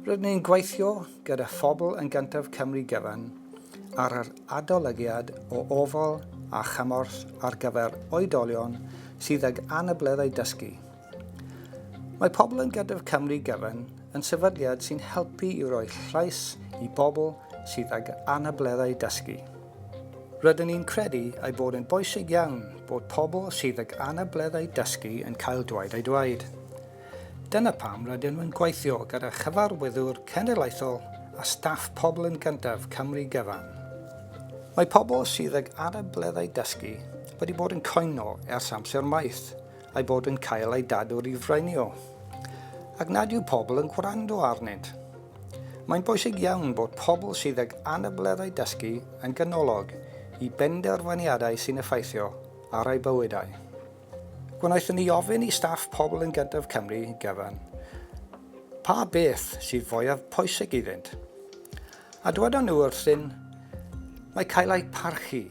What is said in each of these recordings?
Rydyn ni'n gweithio gyda phobl yn gyntaf Cymru gyfan ar yr adolygiad o ofal a chymorth ar gyfer oedolion sydd ag anableddau dysgu. Mae pobl yn Gadw'r Cymru gyfan yn sefydliad sy'n helpu i roi llais i bobl sydd ag anableddau dysgu. Rydyn ni'n credu ei bod yn bwysig iawn bod pobl sydd ag anableddau dysgu yn cael dweud eu dweud. Dyna pam rydyn nhw'n gweithio gyda chyfarwyddwr cenedlaethol a staff Pobl yn Gyntaf Cymru gyfan. Mae pobl sydd ag anableddau dysgu wedi bod yn cwyno ers amser maith, a'i bod yn cael ei dadwr i freinio, ac nad yw pobl yn gwrando arnynt. Mae'n bwysig iawn bod pobl sydd ag anableddau dysgu yn ganolog i benderfyniadau sy'n effeithio ar eu bywydau. Gwnaethon ni ofyn i staff Pobl yn Gyntaf Cymru gyfan pa beth sydd fwyaf pwysig iddynt. A dywedon nhw wrthyn, mae cael eu parchu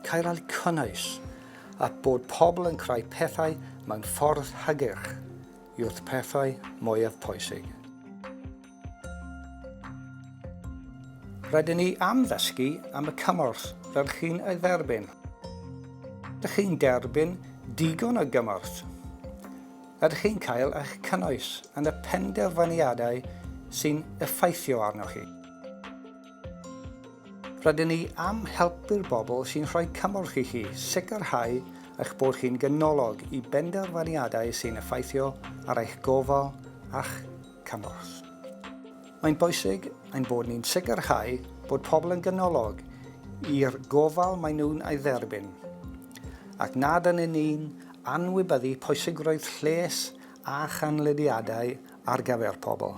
Cael cynnwys, a bod pobl yn creu pethau mewn ffordd hygyrch, yw'r pethau mwyaf pwysig. Rydyn ni am ddysgu am y cymorth fel chi'n ei dderbyn. Ydych chi'n derbyn digon o gymorth? Ydych chi'n cael eich cynnwys yn y penderfyniadau sy'n effeithio arnoch chi? Rydyn ni am helpu'r bobl sy'n rhoi cymorth i chi sicrhau eich bod chi'n ganolog i benderfyniadau sy'n effeithio ar eich gofal a'ch cymorth. Mae'n bwysig ein bod ni'n sicrhau bod pobl yn ganolog i'r gofal maen nhw'n ei dderbyn, ac nad yn ni'n anwybyddu pwysigrwydd lles a chanlyniadau ar gyfer pobl.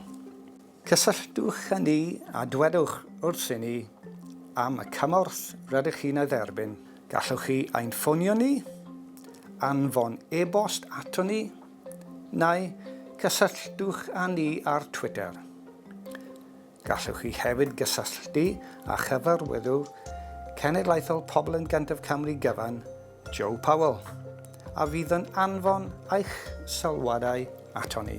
Cysylltwch â ni a dwedwch wrthyn ni am y cymorth rydych chi'n ei dderbyn. Gallwch chi ein ffonio ni, anfon e-bost aton ni, neu cysylltwch â ni ar Twitter. Gallwch chi hefyd gysylltu â Chyfarwyddwr Cenedlaethol Pobl yn Gyntaf Cymru Gyfan Joe Powell, a fydd yn anfon eich sylwadau aton ni.